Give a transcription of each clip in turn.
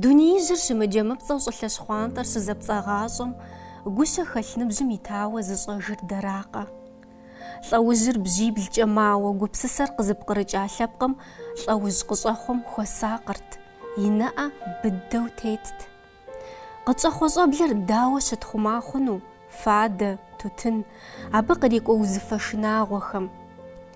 Дунеижьыр щымыджэмыпцӏэу щӏылъэ щхъуантӏэр щызэпцӏагъащӏэм гущэхэлъ ныбжьым итауэ зыщӏэжыр дэракъэ? Лӏэужьыр бжьиблкӏэ мауэ гупсысэр къызыпкърыкӏа лъэпкъым лӏэужь къыщӏэхъуэм хуэсакъырт, и нэӏэ быдэу тетт. Къытщӏэхъуэ щӏэблэр дауэ щытхъума хъуну, фадэ, тутын, абы кърикӏуэ узыфэ шынагъуэхэм?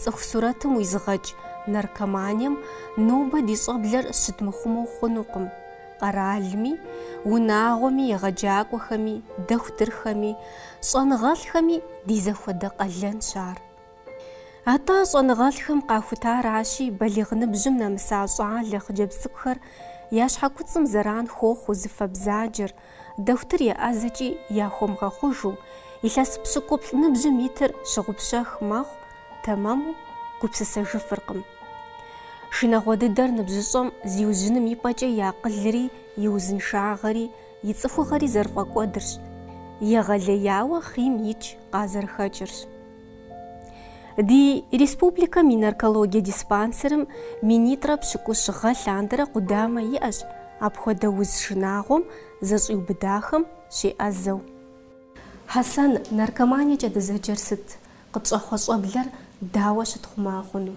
Цӏыху сурэтым уизыгъэкӏ наркоманием нобэ ди щӏэблэр щыдмыхъумэу хъунукъым. Къэралми, унагъуэми, егъэджакӏуэхэми, дохутырхэми, щӏэныгъэлӏхэми ди зэхуэдэ къалэнщ ар. Атӏэ щӏэныгъэлӏхэм къахутаращи, балигъ ныбжьым нэмыса щӏалэ хъыджэбз цӏыкӏухэр я щхьэкуцӏым зэран хуохъу узыфэ бзаджэр, Дохутыр еӏэзэкӏи яхуэмыгъэхъужу, илъэс пщыкӏуплӏ ныбжьым итыр щыгъупщэх мэхъу, тэмэму гупсысэжыфыркъым. Шынагъуэ дыдэр ныбжьыщӏэм зиужьыным и пӏэкӏэ и акъылри и узыншагъэри и цӏыхугъэри зэрыфӏэкӏуэдырщ, егъэлеяуэ хъийм икӏ къазэрыхэкӏырщ. Ди республикэм и наркологие диспансерым минитӏрэ пщыкӏущ гъэ лъандэрэ къудамэ иӏэщ апхуэдэ уз шынагъуэм зэщӏиубыдахэм щеӏэзэу. Хьэсэн, наркоманиекӏэ дызэджэр сыт? Къытщӏэхъуэ щӏэблэр дауэ щытхъума хъуну?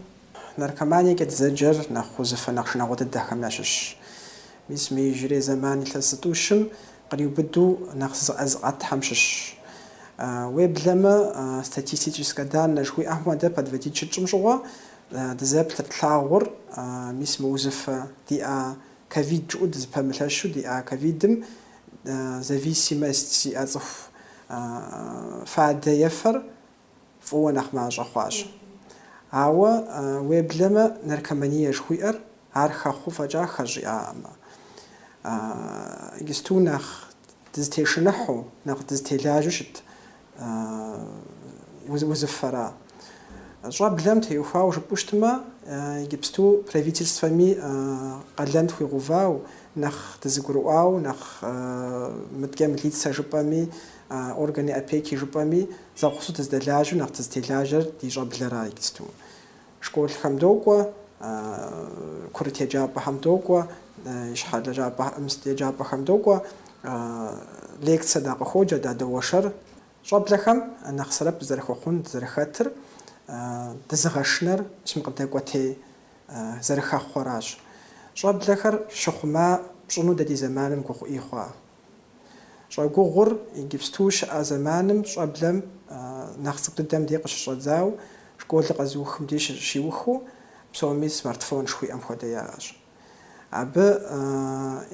Наркоманиекӏэ дызэджэр нэхъ узыфэ, нэхъ шынагъуэ дыдэхэм ящыщщ. Мис мы иужьрей зэман илъэс зытӏущым Къриубыду нэхъ зызыӏэ зыӏэтхэм щыщщ. Уеблэмэ, статистическэ даннэ жыхуиӏэм хуэдэ подводить щытщӏым щыгъуэ дызэплъыр тлъагъур, мис мы узыфэ диӏа ковид жыӏэу дызыпэмылъэщу диӏа ковидым зависимость зиӏэ цӏыху фадэ ефэр, фӏыуэ нэхъ мащӏэ хъуащ. Ауэ, уеблэмэ, наркомание жыхуиӏэр ар хэхъуу фӏэкӏа хэщӏ иӏакъым. Иджысту нэхъ дызытешыныхьу, нэхъ дызытелажьэу щыт узыфэра. Щӏэблэм теухуауэ жыпӏэу щытмэ, иджыпсту правительствэми къалэн тхуигъэувау, нэхъ дызэгурыӏуау, нэхъ мыдкӏэ милицэ жыпӏэми, А органи опеки жыпӏэми, зэгъусэу дыздэлажьэу нэхъ дызытелажьэр ди щӏэблэра иджысту. Школхэм докӏуэ, курыт еджапӏэхэм докӏуэ, ищхьэ еджапӏэхэм докӏуэ, лекцэ дакъыхуоджэ, дадоуэршэр. Щӏэблэхэм нэхъ сэбэп дызэрыхуэхъун, дызэрыхэтыр, дызыгъэшынэр мис мы къыдэкӏуэтей зэрыхэхъуэращ. Щӏэблэхэр щыхъума пщӏыну дэ ди зэманым гугъу ӏей хъуа? Щӏэгугъур Иджыпсту щыӏэ зэманым щӏэблэм нэхъ цӏыкӏу дыдэм де къыщыщӏэдзау, школыр къэзыухым дей щыщиухыу, псоми смартфон жыхуиӏэм хуэдэ яӏэщ. Абы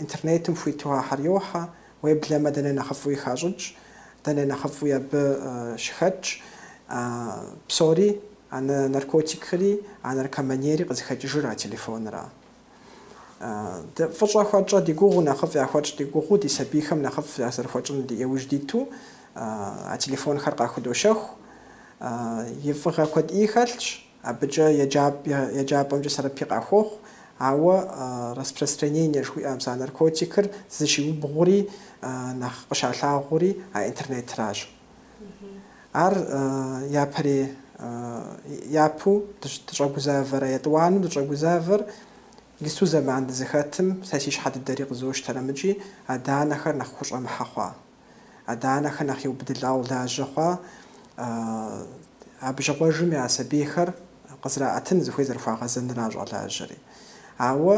интернетым хуиту ахьэр йохьэ, уеблэмэ дэ нэхъ нэхъыфӏуи хащӏыкӏ, дэ нэхъ нэхъыфӏуи абы щыхэтщ. Псори, а наркотикри, а наркоманиери къызыхэкӏыжыр а телефонра. Дэ фӏыщӏэ хуэтщӏэ ди гугъу нэхъыфӏ яхуэтщӏ ди гугъуу ди сабийхэм нэхъыфӏ зэрыхуэтщӏын ди иужь диту а телефонхэр къахудощэху. И фӏыгъэ куэд ӏей хэлъщ, абыкӏэ еджапӏэмкӏэ сэбэпи къахуохъу, ауэ распространение жыхуиӏэ мис а наркотикыр зыщиубгъури нэхъ къыщалъагъури а интернетращ. Ар япэрей япэу дыщӏэгузавэра, етӏуанэу дыщӏэгузавэр иджыпсту зэман дызыхэтым сэ си щхьэ дыдэри къызощтэр абыкӏи адэ-анэхэр нэхъ хущӏэмыхьэ хъуа, адэ-анэхэр нэхъ еубыдылӏауэ лажьэ хъуа абы щыгъуэжым я сабийхэр къызэраӏэтын зыхуей зэрыхуагъэзэнра щӏэлажьэри. Ауэ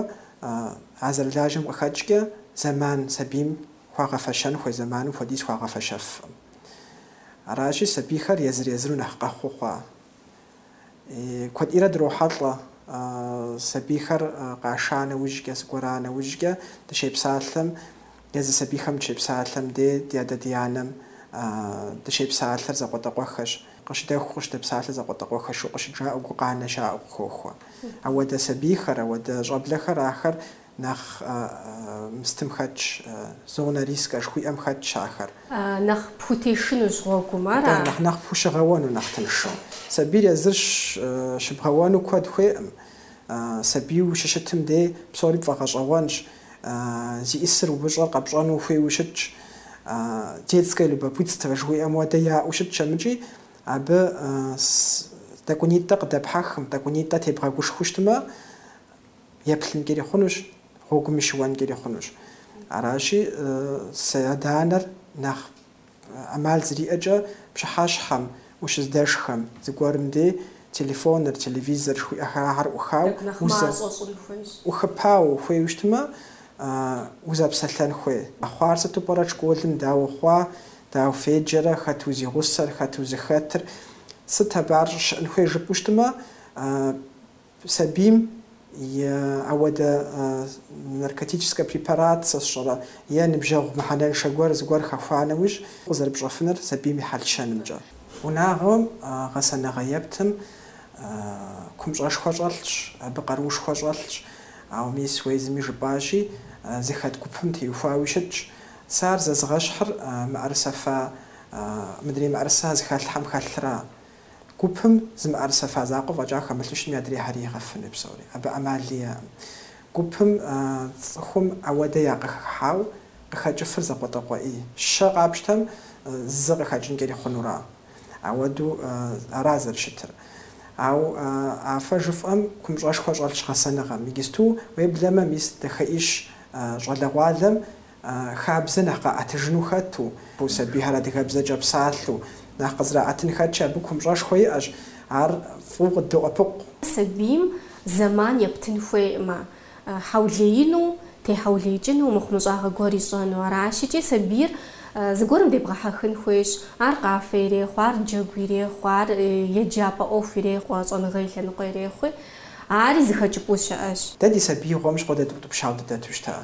а зэрылажьэм къыхэкӏкӏэ зэман сабийм Хуагъэфэщэн хуей зэманым хуэдиз хуагъэфэщэфкъым. Аращи, сабийхэр езыр-езыру нэхъ къэхъуу хъуа. Куэд ӏейрэ дрохьэлӏэ сабийхэр къаша нэужькӏэ, зыгуэра нэужькӏэ дыщепсалъэм, езы сабийхэм дыщепсалъэм дей ди адэ-ди анэм дыщепсалъэр зэкъуэтӏэкъуэхэщ, къыщыдэху, къыщыдэпсалъэр зэкъуэтӏэкъуэхэщу къыщыджаӏэу гукъанэ щаӏэу къыхохуэ. Ауэдэ сабийхэр, ауэдэ щӏэблэхэр ахэр Нэхъ мыстым хэтщ, зона риска жыхуиӏэм хэтщ ахэр. Нэхъ пхутешынущ гъуэгум ар. Атӏэ, нэхъ нэхъ пхущыгъэуэну, нэхъ тыншу. Сабийр езыр щыбгъэуэну куэд хуейкъым. Сабийуэ ущыщытым дей псори пфӏэгъэщӏэгъуэнщ, зиӏысыр умыщӏэр къэпщӏэну ухуейуи щытщ. Детское любопытство жыхуиӏэм хуэдэ яӏэу щытщ амыкӏи, абы тӏэкӏунитӏэ къыдэпхьэхым, тӏэкӏунитӏэ тебгъэгушхуу щытмэ, еплъынкӏэри хъунущ, гъуэгуми щыуэнкӏэри хъунущ. Аращи, сэ адэ-анэр нэхъ ӏэмал зэриӏэкӏэ пщыхьэщхьэм, ущыздэшхэм, зыгуэрым дей телефоныр, телевизор жыхуиӏэ ахьэр ӏухау, ӏухыпау ухуейуэ щытмэ, узэпсэлъэн хуей. Къэхъуар сыту пӏэрэ школым, дауэ хъуа, дауэ феджэрэ, хэт узигъусэр, хэт узыхэтыр, сыт абы ар щӏыщыӏэн хуейр жыпӏэу щытмэ, Сабийм е ауэдэ наркотическэ препарат сэ сщӏэрэ е ныбжьэгъу мыхьэнэншэ гуэр зыгуэр хэхуа нэужь, къызэрыпщӏэфыныр сабийм и хьэл-щэнымкӏэ. Унагъуэм гъэсэныгъэ ептым, купщӏэшхуэ щӏэлъщ, абы къаруушхуэ щӏэлъщ, ауэ мис уэ езыми жыпӏащи, зыхэт гупым теухуауи щытщ. Сэ ар зэзгъэщхьыр мыӏэрысэ фа, мыдрей мыӏэрысэ зэхэлъхэм хэлъра. Гупым зы мыӏэрысэ фа закъуэ фӏэкӏа хэмылъыщми адрейхэри игъэфыну псори. Абы ӏэмали иӏэкъым. Гупым цӏыхум ауэдэ якъыхыхьауэ къыхэкӏыфыр закъуэтӏакъуэ ӏей. Щэ къапщтэм зы къыхэкӏынкӏэри хъунура. Ауэду ара зэрыщытыр. Ауэ а фэ жыфӏэм купщӏэшхуэ щӏэлъщ гъэсэныгъэм. Иджысту уеблэмэ мис дахэ ӏейщ щӏалэгъуалэм. хабзэ нэхъ къаӏэтыжыну хэту, сабийхэр адыгэбзэкӏэ псалъэу нэхъ къызраӏэтын хэтщи, абы купщӏэшхуэ иӏэщ, ар фӏыуэ къыддоӏэпыкъу. Сабийм зэман ептын хуейкъымэ, хьэулеину, техьэулеикӏыну, мыхъумыщӏагъэ гуэр ищӏэну. Аращикӏи сабийр зыгуэрым дебгъэхьэхын хуейщ, ар къафэ ирехъу, ар джэгу ирехъу, ар еджапӏэ ӏуэху ирехъу, а щӏэныгъэ и лъэныкъуэ ирехъуи, ари зы хэкӏыпӏэу щыӏэщ. Дэ ди сабиигъуэм щыгъуэ дэ дыутӏыпщауэ дыдэту щыта.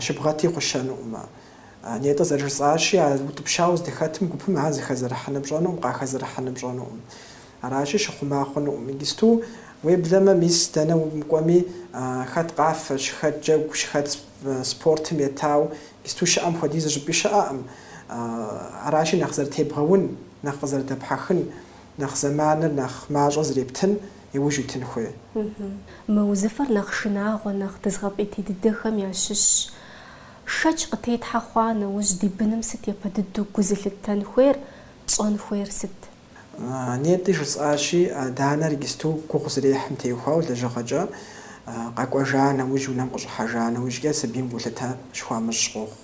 Щыбгъэти хъущэнукъымэ. Нетӏэ зэрыжысӏащи, а утӏыпщауэ здыхэтым гупым ар зыхэзэрыхьыным пщӏэнукъым, къахэзэрыхьыным пщӏэнукъым. Аращи, щыхъума хъунукъым. Иджысту, уеблэмэ, мис дэнэ умыкӏуэми, хэт къафэщ, хэт джэгущ, хэт спортым етауэ, иджысту щыӏэм хуэдизу щӏыпӏи щыӏэкъым. Аращи, нэхъ зэрытебгъэун, нэхъ къызэрыдэпхьэхын, нэхъ зэманыр нэхъ мащӏэ зрептын иужь итын хуей. Мы узыфэр нэхъ шынагъуэ, нэхъ дызгъэпӏейтей дыдэхэм ящыщщ. Шэч къытетхьэ хъуа нэужь ди быным сыт япэ дыдэу гу зылъыттэн хуейр, пщӏэн хуейр сыт? Нетӏи жысӏащи, адэ-анэр иджысту гугъу зэрехьым теухуауэ лэжьыгъэкӏэ къэкӏуэжа нэужь, унэм къыщӏыхьэжа нэужькӏэ сабийм гулъытэ щыхуамыщӏ къохъу.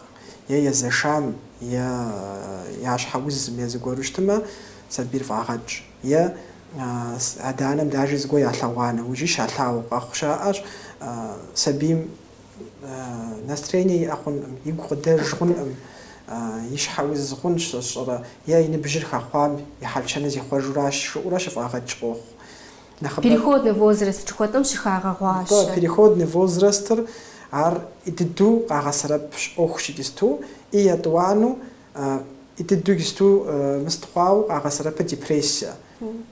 е езэшам е я щхьэ узым е зыгуэру щытымэ, сабийр фӏагъэкӏ. Е адэ-анэм даже зыгуэр ялъэгъуа нэужьи щалъагъуу къэхъу щыӏэщ, сабийм настроение иӏэ хъункъым, игу къыдэж хъункъым, и щхьэ уз хъунщ сщӏэрэ е и ныбжьыр хэхъуам и хьэл-щэныр зихъуэжуращ жыӏэурэ щыфӏагъэкӏ къохъу. Переходный возраст жыхуэтӏэм щыхагъэгъуащэ. Атӏэ, переходный возрастыр ар ӏей дыдэу къагъэсэрэп ӏуэхущ иджысту, и етӏуанэу, ӏей дыдэу иджысту мыст хъуауэ къагъэсэрэпыр депрессие.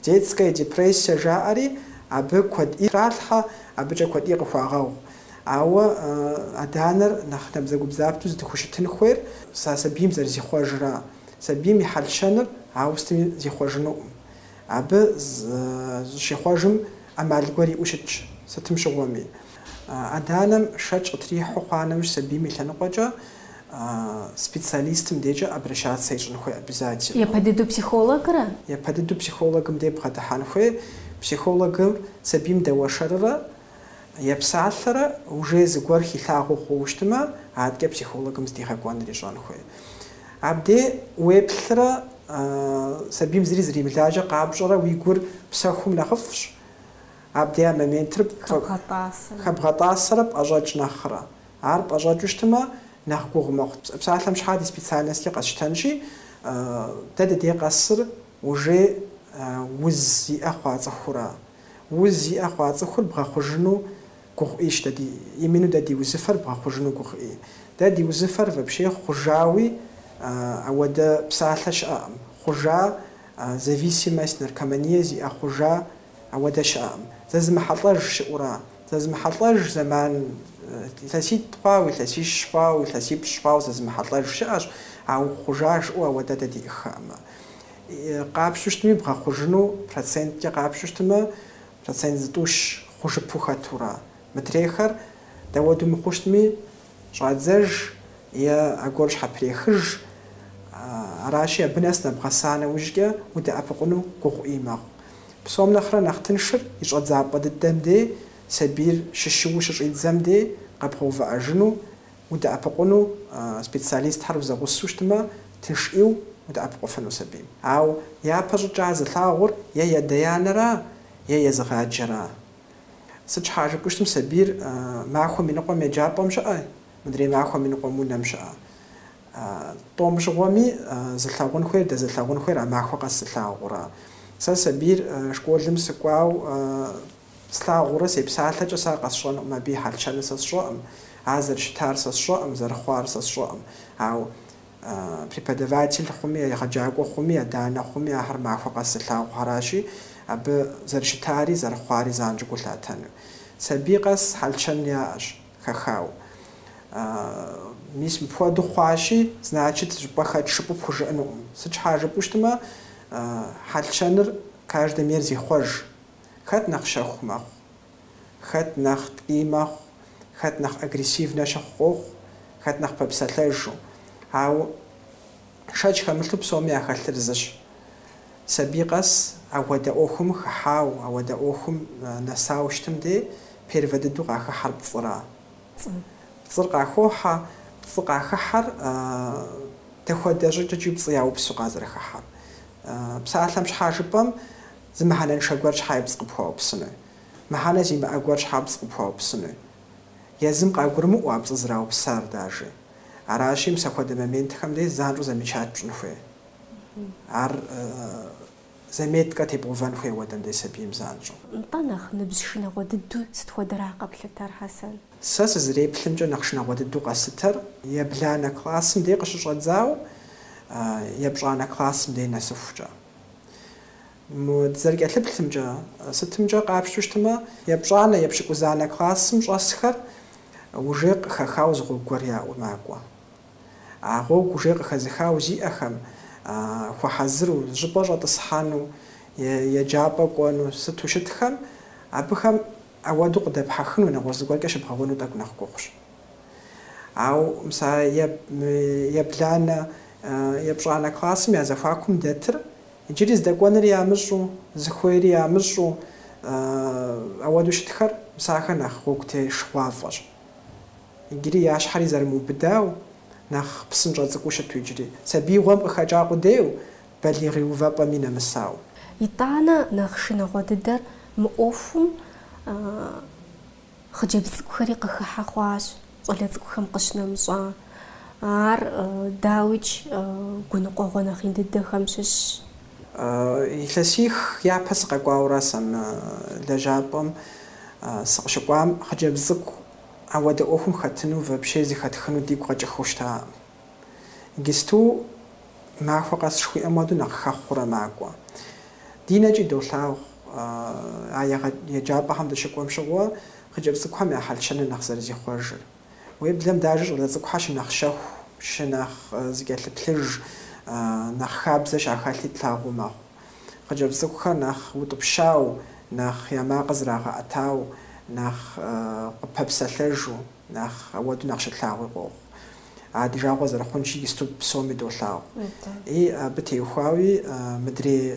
Детская депрессия жаӏэри абы куэд ӏей тралъхьэ, абыкӏэ куэд ӏей къыхуагъэгъу. Ауэ адэ-анэр нэхъ набдзэгубдзаплъэу зыдыхущытын хуейр сабийм зэрызихъуэжра, сабийм и хьэл-щэныр ауэ сытми зихъуэжынукъым. Абы зыщихъумэжын ӏэмал гуэр иӏэу щытщ, сытым щыгъуэми. Адэ-анэм шэч къытрихьэу хъуа нэужь сабийм и лъэныкъуэкӏэ специалистым дежкӏэ обращаться ищӏын хуей обязательно. Япэ дыдэу психологрэ? Япэ дыдэу психологым де бгъэдыхьэн хуей. Психологыр сабийм дэуэршэррэ Епсалъэрэ уже зыгуэр хилъагъуу хъууэ щытмэ, адэкӏэ психологым здигъэкӏуэныр ищӏэн хуей. Абде уеплърэ сабийм зыри зримылажьэ къапщӏэрэ уи гур псэхумэ нэхъыфӏщ, абде а моментыр хэбгъэтӏасэрэ пӏэщӏэкӏ нэхърэ. Ар пӏэщӏэкӏыу щытмэ, нэхъ гугъу мэхъу. Псалъэм щхьа ди специальносткӏэ къэсщтэнщи, дэ дыдей къэсыр уже уз зиӏэ хъуа цӏыхура? Уз зиӏэ хъуа цӏыхур бгъэхъужыну гугъуӏищ дэ ди, именно дэ ди узыфэр бгъэхъужыну гугъуӏи. Дэ ди узыфэр вообще хъужауэ ауэдэ псалъэ щыӏэкъым, хъужа, зависимость, наркомания зиӏэ хъужа ауэдэ щыӏэкъым. Зэзымыхьэлӏэж щыӏэу аращ? Зэзымыхьэлӏэж зэман илъэситӏ хъуауэ, илъэсищ хъуауэ, илъэсипщӏ хъуауэ зэзымыхьэлӏэж щыӏэщ, ауэ хъужа жыӏэу ауэдэ дэ диӏыххэкъымэ. къапщтэу щытми, бгъэхъужыну проценткӏэ къапщтэу щытмэ, процент зытӏущ хъужыпу хэтурэ, мыдрейхэр дауэдэу мыхъуу щытми, щӏадзэж е аргуэру щхьэпрехыж, аращи, абы нэс нэбгъэса нэужькӏэ удэӏэпыкъуну гугъуӏи мэхъу. Псом нэхърэ нэхъ тыншыр и щӏэдзапӏэ дыдэм дей, сабийр щыщыуэу щыщӏидзэм дей къэбгъэувыӏэжыну Удэӏэпыкъуну специалистхэр узэгъусэу щытмэ, тыншӏиуэ удэӏэпыкъуфыну сабийм. Ауэ япэ щӏыкӏа зылъагъур е адэ-анэра, е езыгъаджэра. Сыт щхьа жыпӏэу щытмэ, сабийр махуэм и ныкъуэм еджапӏэм щыӏэ, мыдрей махуэм и ныкъуэм унэм щыӏэ. Тӏум щыгъуэми, зылъэгъун хуейр, дэзылъэгъун хуейр а махуэ къэс зылъагъура. Сэ сабийр школым сыкӏуауэ Слъагъурэ, сепсалъэкӏэ сэ къэсщӏэнукъым, абы и хьэл-щэныр сэ сщӏэкъым, ар зэрыщытар сэ сщӏэкъым, зэрыхъуар сэ сщӏэкъым. Ауэ преподаватель хъуми, егъэджакӏуэ хъуми, адэ-анэ хъуми ахэр махуэ къэс зылъагъухэращи, абы зэрыщытари, зэрыхъуари занщӏэу гу лъатэну. Сабий къэс хьэл-щэн яӏэщ, хэхауэ. Мис мыпхуэдэу хъуащи, значит, щӏыпӏэ хэтщ жыпӏэу пхужыӏэнукъым. Сыт щхьа жыпӏэу щытмэ, хьэл-щэныр каждэм езыр зихъуэж, Хэт нэхъ щэху мэхъу, хэт нэхъ ткӏий мэхъу, хэт нэхъ агрессивнэ щыхъу къохъу, хэт нэхъ пэпсэлъэжу. Ауэ шэч хэмылъу псоми яхэлъыр зыщ. Сабий къэс ауэдэ ӏуэхум хыхьау, ауэдэ ӏуэхум нэсау щытым де первэ дыдэу къахыхьэр пцӏыра? Пцӏыр къахохьэ, пцӏы къахыхьэр дэхуэдэ щӏыкӏэкӏи пцӏы яупсу къазэрыхыхьэр. Псалъэм щхьа жыпӏэм? Зы мыхьэнэншэ гуэр щхьа пцӏы къыпхуаупсыну? Мыхьэнэ зимыӏэ гуэр щхьа пцӏы къыпхуаупсыну? Езым къагурымыӏуэ а пцӏы зраупсар дажэ. Аращи, мса хуэдэ моментхэм дей занщӏэу замечать пщӏын хуей. Ар заметкэ тебгъувэн хуей ауэдэм дей сабийм занщӏэу. Нтӏэ, нэхъ ныбжь шынагъуэ дыдэу сыт хуэдэра къэплъытар, Хьэсэн? Сэ сызэреплъымкӏэ нэхъ шынагъуэ дыдэу къэслъытэр ебланэ классым дей къыщыщӏэдзауэ епщӏанэ классым дей нэсыхукӏэ. Мы дызэрыкӏэлъыплъымкӏэ, сытымкӏэ къапщтэу щытмэ, епщӏанэ, епщыкӏузанэ классым щӏэсхэр уже къыхэхау зы гъуэгу гуэр яӏэу макӏуэ. А гъуэгу уже къыхэзыхау зиӏэхэм, хуэхьэзыру, зыщӏыпӏэ щӏэтӏысхьэну е еджапӏэ кӏуэну сыту щытхэм, абыхэм Ауэду къыдэпхьэхыну, нэгъуэщӏ зыгуэркӏэ щыбгъэуэну тӏэкӏу нэхъ гугъущ. Ау мса ебланэ, епщӏанэ классым я зэхуакум дэтыр, иджыри здэкӏуэныр ямыщӏу, зыхуейри ямыщӏу, ауэду щытхэр, мсахэр нэхъ гъуэгу тешыгъуафӏэщ. Иджыри я щхьэри зэрымыубыдау, нэхъ псынщӏэ цӏыкӏуу щыту иджыри, сабиигъуэм къыхэкӏа къудейу, балигъ и увэпӏэми нэмысау. Итӏанэ нэхъ шынагъуэ дыдэр мы ӏуэхум хъыджэбз цӏыкӏухэри къыхыхьэ хъуащ, щӏалэ цӏыкӏухэм къыщынэмыщӏа. Ар, дауикӏ, гуныкъуэгъуэ нэхъ ин дыдэхэм щыщщ. Илъэсих япэ сыкъэкӏуауэра сэ мы лэжьапӏэм? Сыкъыщыкӏуам, хъыджэбз цӏыкӏу ауэдэ ӏуэхум хэтыну, вообще зыхэтхыну дигу къэкӏыхыу щытакъым. Иджысту махуэ къэс жыхуиӏэм хуэдэу нэхъ хэхъуурэ макӏуэ. Ди нэкӏи долъагъу а еджапӏэхэм дыщыкӏуэм щыгъуэ хъыджэбз цӏыкӏухэм я хьэл-щэныр нэхъ зэрызихъуэжыр. Уеблэм дажэ щӏалэ цӏыкӏухэр щынэхъ щэху, щынэхъ зыкӏэлъыплъыж, нэхъ хабзэ щахэлъи тлъагъуу мэхъу. Хъыджэбз цӏыкӏухэр нэхъ утӏыпщау, нэхъ я макъыр зрагъэӏэтау, нэхъ къыпэпсэлъэжу. Нэхъ ауэду нэхъ щытлъагъуи къохъу. А ди жагъуэ зэрыхъунщи иджысту псоми долъагъу. И абы теухуауи мыдрей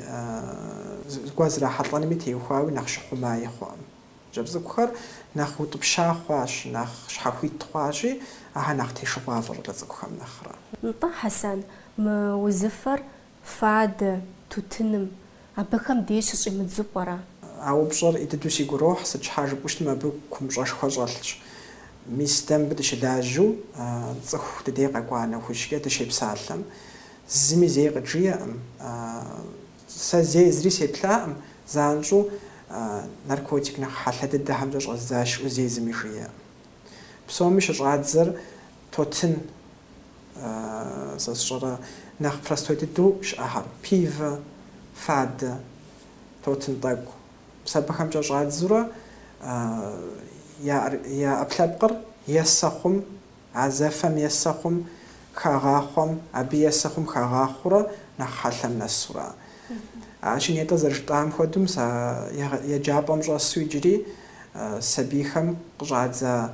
зыгуэр зрахьэлӏэнми теухуауи нэхъ щыхъумаи хъуакъым. Хъыджэбз цӏыкӏухэр нэхъ утӏыпща хъуащ, нэхъ щхьэхуит хъуащи, ахэр нэхъ тешыгъуафӏэщ щӏалэ цӏыкӏухэм нэхърэ. Нтӏэ, Хьэсэн, мы узыфэр Фадэ, тутыным, абыхэм деж щыщӏимыдзэу пӏэрэ? А упщӏэр и дыдэу сигу ирохь, сыт щхьа жыпӏэу щытмэ, абы купщӏэшхуэ щӏэлъщ. Мис дэ мыбы дыщылажьэу, цӏыху дыдей къэкӏуа нэхужькӏэ дыщепсалъэм, зыми зэи къыджиӏэкъым. Сэ зэи зыри сеплъакъым, занщӏэу наркотик нэхъ хьэлъэ дыдэхэмкӏэ щӏэздзащ жиӏэу зэи зыми жиӏэкъым. Псоми щыщӏадзэр Тотын, сэ сщӏэрэ, нэхъ простой дыдэу щыӏэхэр, пивэ, фадэ, тотын тӏэкӏу. Мис абыхэмкӏэ щӏадзурэ я ӏэпкълъэпкъыр есэ хъум, а зэфэм есэ хъум, хагъахъуэм, абы есэ хъум хагъахъуурэ нэхъ хьэлъэм нэсурэ. Аращи нетӏэ зэрыжытӏам хуэдэу мыс а еджапӏэм щӏэсу иджыри сабийхэм къыщӏадза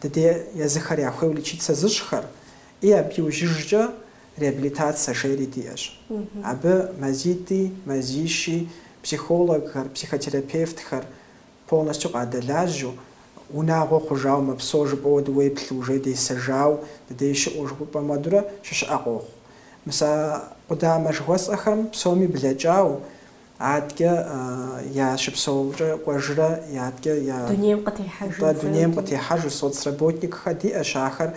Дыде езыхэр яхуейуэ лечиться зыщӏхэр и абы иужьыжкӏэ реабилитацэ жери диӏэщ. Абы мазитӏи, мазищи, психологхэр, психотерапевтхэр полностью къадэлажьэу, унагъуэ хъужауэ мэпсо жыпӏэуэ дыуеплъу, уже десэжау, дыдей щыӏэу жыхуэпӏэм хуэдурэ щыщыӏэ къохъу. Мис а къудамэ жыхуэсӏэхэм псоми блэкӏауэ, Адкӏэ я щыпсэумкӏэ кӏуэжрэ адкӏэ дунейм къытехьэжу соцработникхэ диӏэщ, ахэр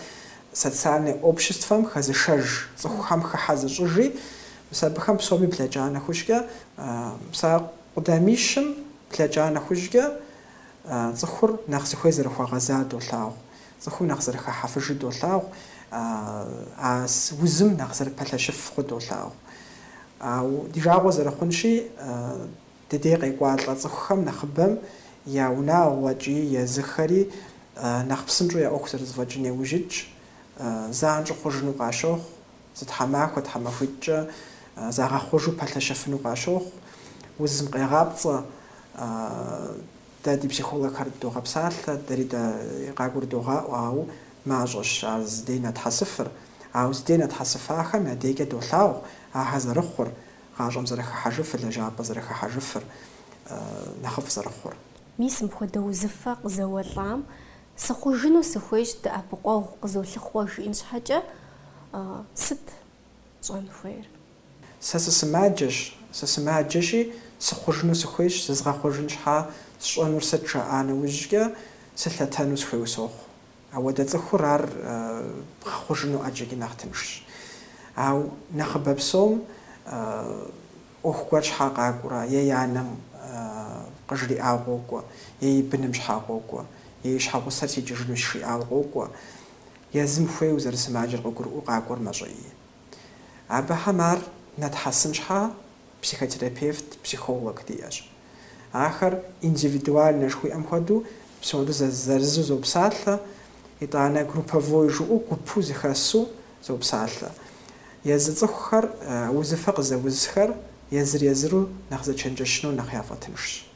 социальное обществэм хэзышэж, цӏыхухэм хыхьэ зыщӏыж, и мис абыхэм псоми блэкӏа нэхужькӏэ, мис а къудамищым блэкӏа нэхужькӏэ цӏыхур нэхъ зыхуей зэрыхуэгъэзар долъагъу. Цӏыхум нэхъ зэрыхыхьэфыжу долъагъу, а узым нэхъ зэрыпэлъэщыф хъу долъагъу. Ау ди жагъуэ зэрыхъунщи, дыдей къекӏуалӏэ цӏыхухэм нэхъыбэм я унагъуэкӏи езыхэри нэхъ псынщӏэу я ӏуэху зэрызэфӏэкӏын яужь итщ, занщӏэу хъужыну къащохъу, зы тхьэмахуэ тхьэмахуитӏкӏэ загъэхъужу пэлъэщыфыну къащохъу, узым къегъапцӏэ. Дэ ди психологхэр догъэпсалъэ, дэри дэ къагурыдогъаӏуэ, ауэ мащӏэщ ар зыдей нэтхьэсыфыр. Ауэ зыдей нэтхьэсыфахэм я дейкӏэ долъагъу ахэр зэрыхъур, гъащӏэм зэрыхыхьэжыфыр, лэжьапӏэ зэрыхыхьэжыфыр, нэхъыфӏ зэрыхъур. Мис мыпхуэдэ узыфэ къызэуэлӏам сыхъужыну сыхуейщ, дэӏэпыкъуэгъу къызолъыхъуэ жиӏэн щхьэкӏэ сыт щӏэн хуейр? Сэ сысымаджэщ, сысымаджэщи, сыхъужыну сыхуейщ, зызгъэхъужын щхьа сщӏэнур сыт жаӏа нэужькӏэ сылъэтэну сыхуейуэ сохъу. Ауэдэ цӏыхур ар бгъэхъужыну ӏэджэкӏи нэхъ тыншщ. Ау нэхъыбэ псом ӏуэху гуэр щхьа къакӏуэра, е и анэм къыжриӏауэ къокӏуэ, е и быным щхьа къокӏуэ, е и щхьэгъусэр сикӏыжынущ жиӏауэ къокӏуэ, езым хуейу зэрысымаджэр къыгурыӏуэу къакӏуэр мащӏэи. Абыхэм ар нэтхьэсын щхьа психотерапевт, психолог диӏэщ. Ахэр индивидуальнэ жыхуиӏэм хуэдэу псори зырызу зопсалъэ, итӏанэ групповой жыӏэу гупу зыхэсу зопсалъэ. Езы цӏыхухэр узыфэ къызэузхэр езыр-езыру нэхъ зэчэнджэщыну нэхъ яфӏэтыншщ.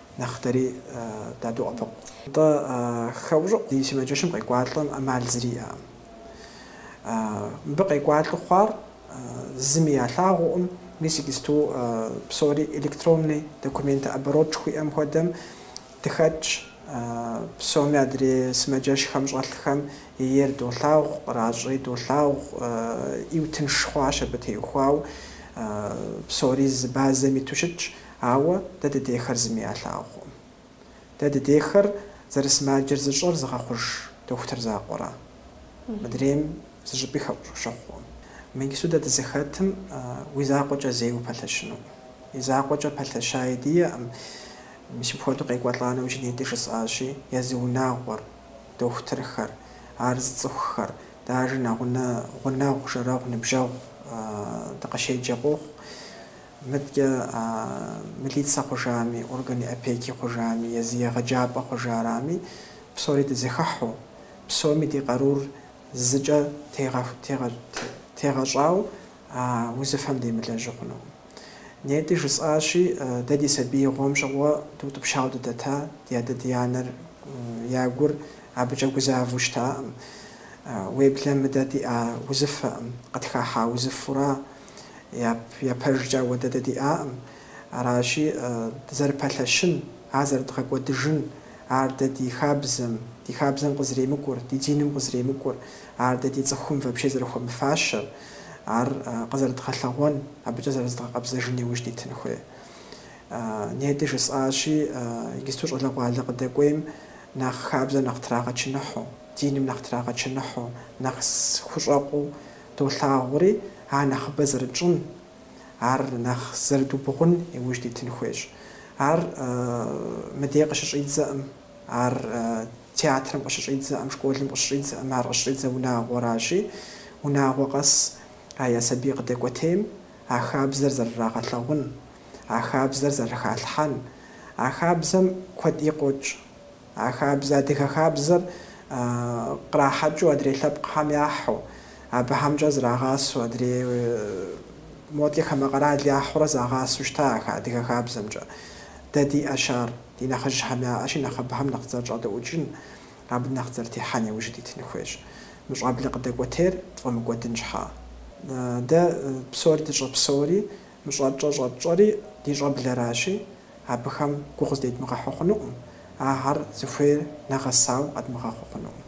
Нэхъ дэри дадоӏэпыкъу. Тӏэ, хэӏущӏыӏу ди сымаджэщым къекӏуалӏэм ӏэмал зыри иӏэкъым. Мыбы къекӏуалӏэу хъуар зыми ялъагъуукъым, мис иджысту псори электронный документооборот жыхуиӏэм хуэдэм дыхэтщ, псоми адрей сымаджэщхэм щӏэлъхэм ейр долъагъу, къращӏи долъагъу, ӏейуэ тынш хъуащ абы теухуау, псори зы базэм иту щытщ. Ауэ дэ дыдехэр зыми ялъагъукъым. Дэ дыдехэр зэрысымаджэр зыщӏэр зыгъэхъуж дохутыр закъуэра. Мыдрейм зы щӏыпӏи хэӏущӏыӏу щыхъукъым. Мы иджыпсту дэ дызыхэтым уи закъуэкӏэ зэи упэлъэщынукъым. И закъуэкӏэ пэлъэщаи диӏэкъым. Мис мыпхуэдэу къекӏуэлӏа нэужь, нетӏи жысӏащи, езы унагъуэр, дохутырхэр, ар зыцӏыхухэр, даже нэгъунэ гъунэгъу, жэрэгъу, ныбжьэгъу дыкъыщеджэ къохъу. Мыдкӏэ а милицэ хъужами, органи опеки хъужами, езы егъэджапӏэ хъужарами, псори дызэхыхьу, псоми ди къарур зыкӏэ тегъэщӏау а узыфэм демылэжьу хъунукъым. Нетӏи жысӏащи, дэ ди сабиигъуэм щыгъуэ дыутӏыпщауэ дыдэта ди адэ-ди-анэр я гур абыкӏэ гузавэу щытакъым. Уеблэмэ дэ диӏа узыфэкъым, къытхахьа узыфэура, я пэжкӏэ ауэдэ дэ диӏакъым. Аращи, дызэрыпэлъэщын, ар зэрыдгъэкӏуэдыжын, ар дэ ди хабзэм, ди хабзэм къызэремыкӏур, ди диным къызэремыкӏур, ар дэ ди цӏыхум вообще зэрыхуэмыфащэр, ар къызэрыдгъэлъэгъуэн, абыкӏэ зэрызыдгъэкъэбзэжын иужь дитын хуей. Нетӏи жысӏащи, иджысту щӏалэгъуалэ къыдэкӏуейм нэхъ хабзэм нэхъ трагъэчыныхьу, диным нэхъ трагъэчыныхьу, нэхъ хущӏэкъуу, Долъагъури ар нэхъыбэ зэрытщӏын, ар нэхъ зэрыдубгъун иужь дитын хуейщ. Ар мыдей къыщыщӏидзэӏым, ар театрэм къыщыщӏидзэӏым, школым къыщыщӏидзэӏым, ар къыщыщӏидзэ унагъуэращи, унагъуэ къэс а я сабий къыдэкӏуэтейм а хабзэр зэрырагъэлъэгъун, а хабзэр зэрыхалъхьэн, а хабзэм куэди къокӏ. А хабзэ, адыгэ хабзэр кърахьэкӏыу адрей лъэпкъхэм яхьу, абыхэмкӏэ зрагъасэу, адрей модкӏэ хамэ къэрал яхьурэ загъасэу щыта а адыгэ хабзэмкӏэ. Дэ диӏэщ ар, ди нэхъыжьхэм яӏэщи, нэхъ абыхэм нэхъ дызэрыщӏэдэӏукӏын, абы нэхъ дызэрытехьэн иужь дитын хуейщ. Мы щӏэблэ къыдэкӏуэтейр тфӏэмыкӏуэдын щхьа. Дэ псори дыщӏэпсэури, мы щӏэтщӏэр щӏэтщӏэри ди щӏэблэращи, абыхэм гугъу зыдедмыгъэхьу хъунукъым, ахэр зыхуейр нэгъэсауэ къэдмыгъэхъуу хъунукъым.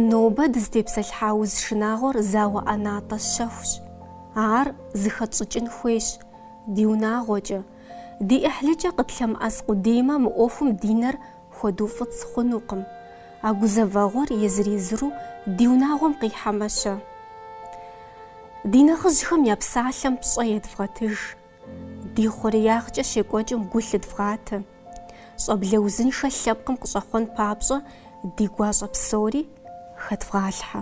Нобэ дызытепсэлъыхьа уз шынагъуэр зауэ ӏэнатӏэ щэхущ. Ар зыхэтщӏыкӏын хуейщ, ди унагъуэкӏэ, ди ӏыхьлыкӏэ къытлъэмыӏэс къудеймэ мы ӏуэхум ди нэр хуэдуфӏыцӏ хъунукъым, а гузэвэгъуэр езыр-езыру ди унагъуэм къихьэмэ-щэ? Ди нэхъыжьхэм я псалъэм пщӏэ едвгъэтыж, ди хъуреягъкӏэ щекӏуэкӏым гу лъыдвгъатэ, щӏэблэ узыншэ лъэпкъым къыщӏэхъуэн папщӏэ ди гуащӏэ псори хэдвгъалъхьэ.